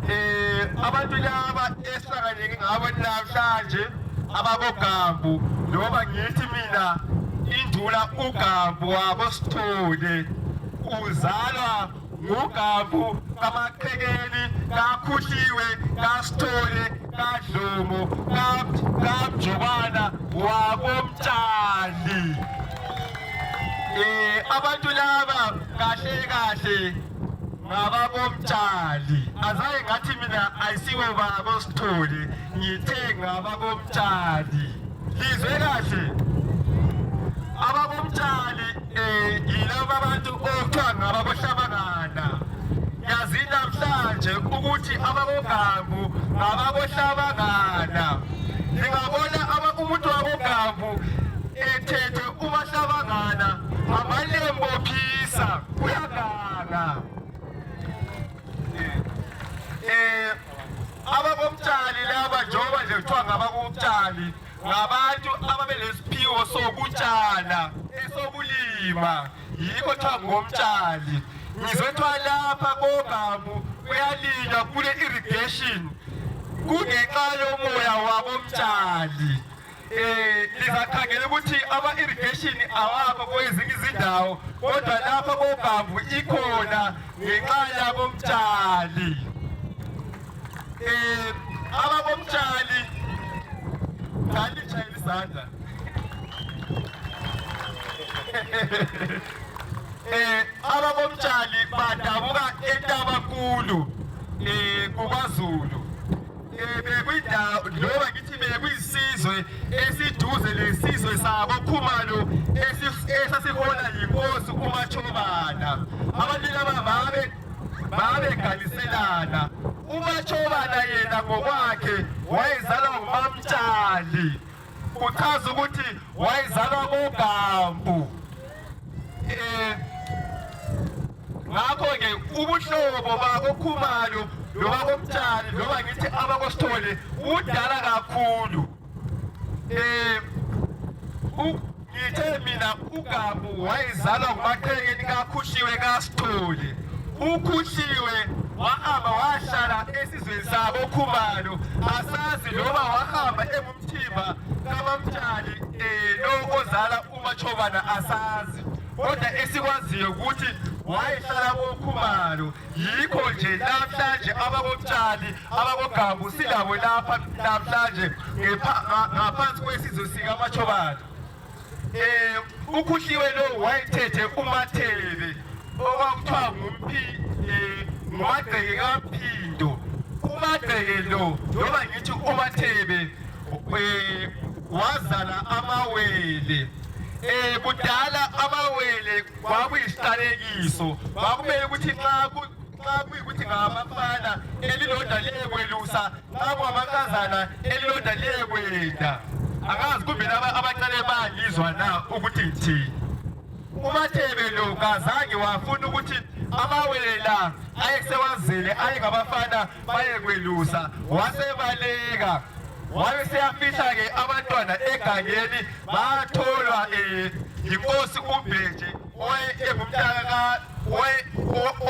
um abantu laba esihlanganeke ngabo namhlanje ababogambu noma ngithi mina indula ugambu wabo sithole uzalwa ngugambu kamaqhekeni kakhuhliwe kasithole kadlomo kamjobana wakomtshali um abantu laba kahle kahle ngabakomtshali azaye ngathi mina ayisibo babo sithole ngithe ngabakomtshali lizwe kahle abakomtshali um yilaba abantu okuthiwa ngabakohlabangana yazi namhlanje ukuthi abakogambu ngabakohlabangana ndingabona umuntu wakogambu ethethe ubahlabangana amalembophisa Eh abakobutshali laba njengoba nje kuthiwa ngabakobutshali ngabantu ababelesiphiwo sokutshala esokulima yikho kuthiwa ngomtshali ngizwe kuthiwa lapha kogamu kuyalinywa kule irrigation kungenxa yomoya wabomtshali Eh, lizakhangela ukuthi ama-irrigation awakho kwezinye izindawo kodwa lapha kobhambu ikhona ngenxa yabomtshali um eh, ababomtshali ngalitshayela isandla eh ababomtshali badabuka entabakulu eh kubaZulu loba ngithi bekuyisizwe esiduze lesizwe sabo khumalo esasihola yinkosi umatshobana abantu laba babe babeganiselana umatshobana yena ngokwakhe wayezalwa ngumamtshali kuchaza ukuthi wayezalwa koGambu eh ngakho ke ubuhlobo bakoKhumalo loba komtshali loba ngithi abakosithole udala kakhulu eh ngithe mina ugabu wayezalwa ngumathekeni kakhuhliwe kasithole ukhuhliwe wahamba wahlala esizweni sabo khumalo asazi loba wahamba engumthimba kamamtshali um eh, lo ozala umatshobana asazi kodwa esikwaziyo ukuthi wayehlala kokhumalo yikho nje namhlanje abakotshani ababogabu silabo lapha namhlanje ngaphansi kwesizwe sikamachobana um eh, ukhuhliwe lowo wayethethe umathebe okwakuthiwa ngumpi um eh, ngumagceke kampindo umagceke lo noma ngithi umathebe um eh, wazala amawele eh kudala amawele kwakuyisiqalekiso kwakumele ukuthi nxa xa kuyikuthi ngamafana elilodwa liyekwelusa xa kwamankazana elilodwa liyekwenda angazi kumbe laba abacele bangizwa na ukuthi ngithini umathebe lo kazange wafuna ukuthi amawele la ayesewazele ayengabafana bayekwelusa wasebaleka wabe seyafihla-ke abantwana egangeni batholwa um yinkosi umbeje oye ke mumtaka ka oye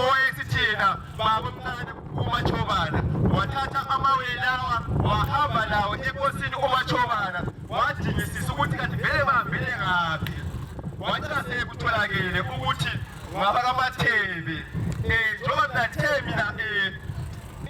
oye sithina baba mncane umachobana wathatha amawe lawa wahamba lawo enkosini umachobana wadingisisa ukuthi kanti vele bahambele ngaphi wacina sekutholakele ukuthi ngabakamathebe um eh, njengoba mina themi na um eh,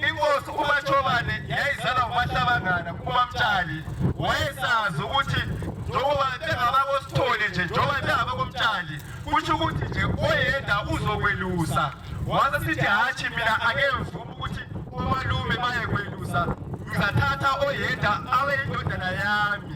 inkosi umatshobane yayizalwa kumahlabangana kumamtshali wayesazi ukuthi njengoba bengabakosithole nje njengoba bengabakomtshali kutsho ukuthi nje oyenda uzokwelusa wase sithi hatshi mina akemvuma ukuthi omalume bayekwelusa ngizathatha oyenda awe indodana yami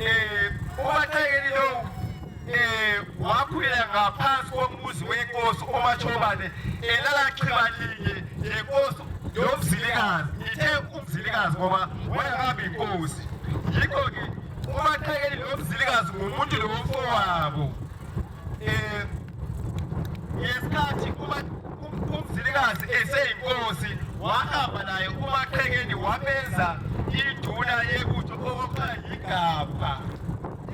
eh, ubathekeli lowu eh, wakhulela ngaphansi kombuzi wenkosi omashobane elala chiba linye lenkosi yomzilikazi ngithe umzilikazi ngoba wayehamba inkosi yikho-ke ubathekeli lomzilikazi ngumuntu lowomfowabo eh, ngesikhathi umzilikazi eseyinkosi wahamba naye umaqhekeni wabenza iduna yebutho okuthiwa yigabha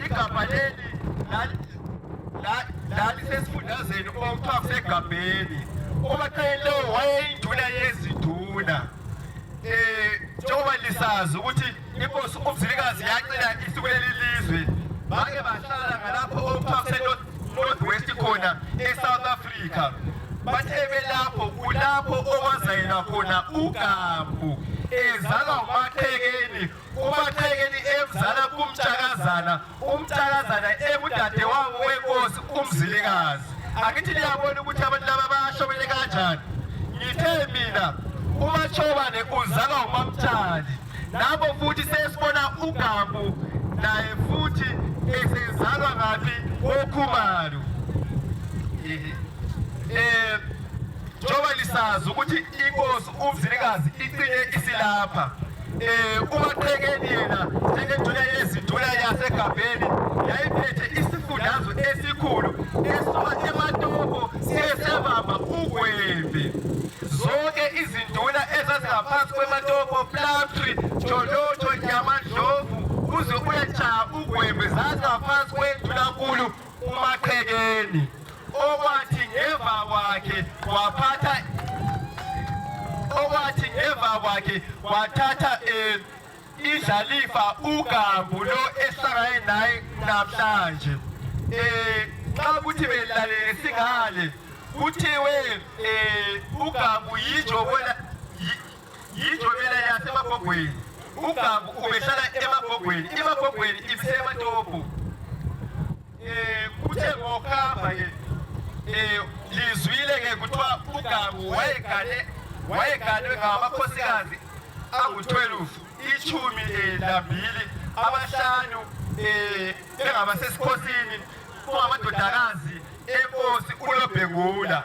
igabha leli lalisesifundazeni okuthiwa kusegabheni umaqhekeni lowo wayeyinduna yeziduna um njengoba lisazi ukuthi inkosi umzilikazi yacela isuku lelilizwe bake bahlala ngalapho okuthiwa kusenorth west khona esouth africa bathe belapho kulapho okwazayela khona ugambu ezalwa umaqhekeni umaqhekeni emzala kumtshakazana umntakazana engudadewabo wenkosi umzilikazi angithi liyabona ukuthi abantu laba bashobele kanjani ngithe mina umashobane uzalwa umamtshali lapho futhi sesibona ugabu naye futhi esezalwa ngaphi kokhumalo eh njengoba lisazi ukuthi inkosi umzilikazi iqine isilapha Eh, umathekeni yena njengeduna yeziduna yasegabheni yayiphethe isifundazwe esikhulu esuka ematopo siyesebamba ugwembe zonke izinduna ezazingaphansi kwematopo plumtree jolotsho yamadlovu uze uyatshaa ugwembe zazingaphansi kwendunankulu umaqhekeni okwathi ngemva kwakhe waphatha okwathi ngemva kwakhe wathatha eh, idlalifa ugambu lo ehlangane naye namhlanje eh xa kuthi belalele singale kuthiwe eh ugambu yinjobona yijo mina yasemagogweni ugabu ubehlala emagogweni imagogweni ibisematopo um eh, kuthe ngokuhamba ke eh, um lizwile ke kuthiwa ugabu wayegane wayeganwe ngamakhosikazi angu-12 ichumi um eh, lambili abahlanu um bengabasesikhosini kungamadodakazi enkosi ulobhengula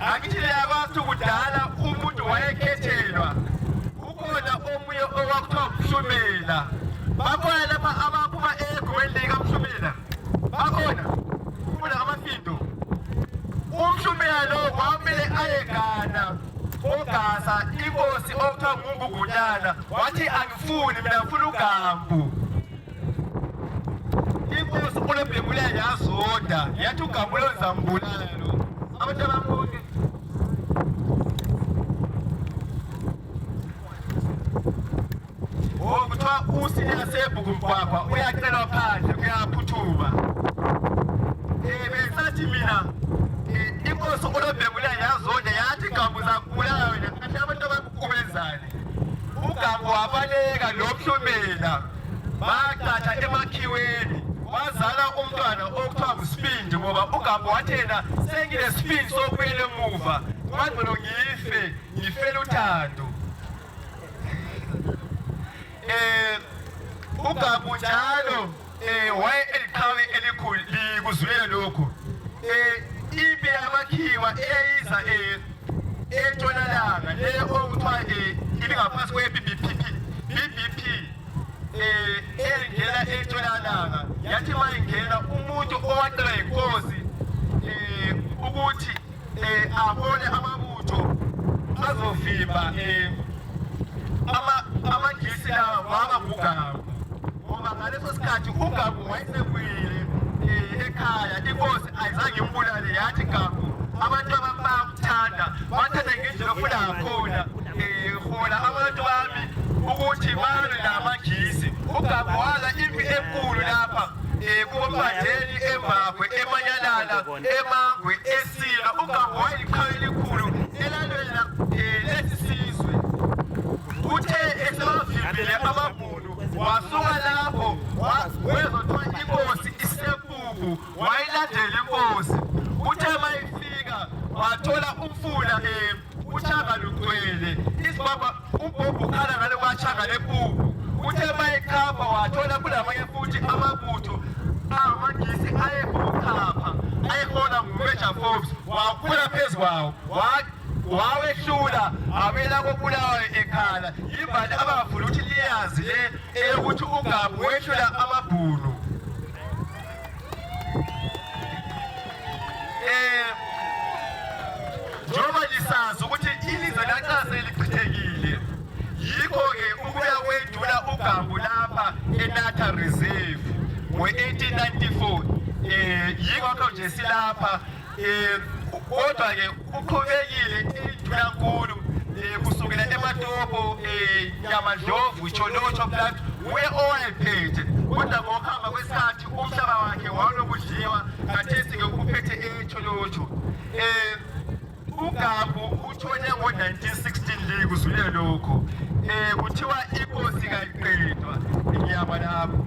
akithileya kwathi kudala umuntu wayekhethelwa kukhona omunye okwakuthiwa mhlumela bakhona lapha abaphuma egumeni likamhlumela bakhona kula amafindo umhlumela lo kwamele ayegana ogasa inkosi okuthiwa ngungugunyana wathi angifuni mina ngifuna ugambu Inkosi uLebhebula yazoda yathi uGabulo uzambulala lo. Abantu abambuke. Oh, kuthiwa usilela sebhuku mgwagwa uyacelwa phandle kuyaphuthuma. Eh, besathi mina eh, inkosi uLebhebula yazoda yathi Gabu zakubulala wena. Kanti abantu abakukubenzayo. ugabu wabaleka lomhlumela baqatha emakhiweni wazala umntwana okuthiwa ngusibindi ngoba ugambo wathi yena senginesibindi sokubuyela emuva kwangcono ngife ngifele uthando eh ugabu njalo eh waye eliqhawe elikhulu likuzwile lokho eh impi yamakhiwa eyiza eh entshonalanga le okuthiwa eh, ibingaphansi kwe-BBPP BBP eh engena entshonalanga yathi uma ingena umuntu owacela inkosi eh ukuthi eh abone amabutho azovimba eh ama amagisi lawa wakabugawu ngoba ngaleso sikhathi ugabu wayesekwile eh, ekhaya inkosi azange mbulale yathi kaku abantu abami bayakuthanda bathanda ngendlela ofuna ngakhona ehola eh, abantu bami ukuthi balwe namagisi ugagu wala impi enkulu lapha um eh, kubombandeli embakwe emanyalala emangwe esila ugagu wayelikhaya elikhulu elalwela um eh, lesi sizwe kuthe esebavimbile ababhunu wasuka lapho wezothiwa inkosi isepuku wayilandela inkosi uthe mayifika wathola umfula emi uthanga lugcwele isibaba ubhobho ukhala ngale kwathanga lepuku uthe mayekhapha wathola kulamanye futhi amabutho amagisi ayekuchapha ayehona ngumeja forbes wakhula phezu kwawo wawehlula abela kobulawayo ekhala yimbali abangafuni ukuthi liyazi le eyokuthi ungabi wehlula amabhunu eh, njengoba lisazi ukuthi ilizwe lanxa selichithekile yikho-ke ukuya kwedula ugambu lapha enatha reserve ngowe-1894 um eh, yikho kho nje silapha Eh, kodwa-ke uqhubekile intulankulu eh, kusukela ematopo eh, yamadlovu itsho lotsho plat wuye owayephethe kodwa ngokuhamba kwesikhathi umhlaba wakhe wawulokudliwa kathesi-ke uphethe etsho lotsho um ugabu uthole ngo-1916 leyi kuzule lokho um kuthiwa inkosi kayiqedwa ngiyaba lapho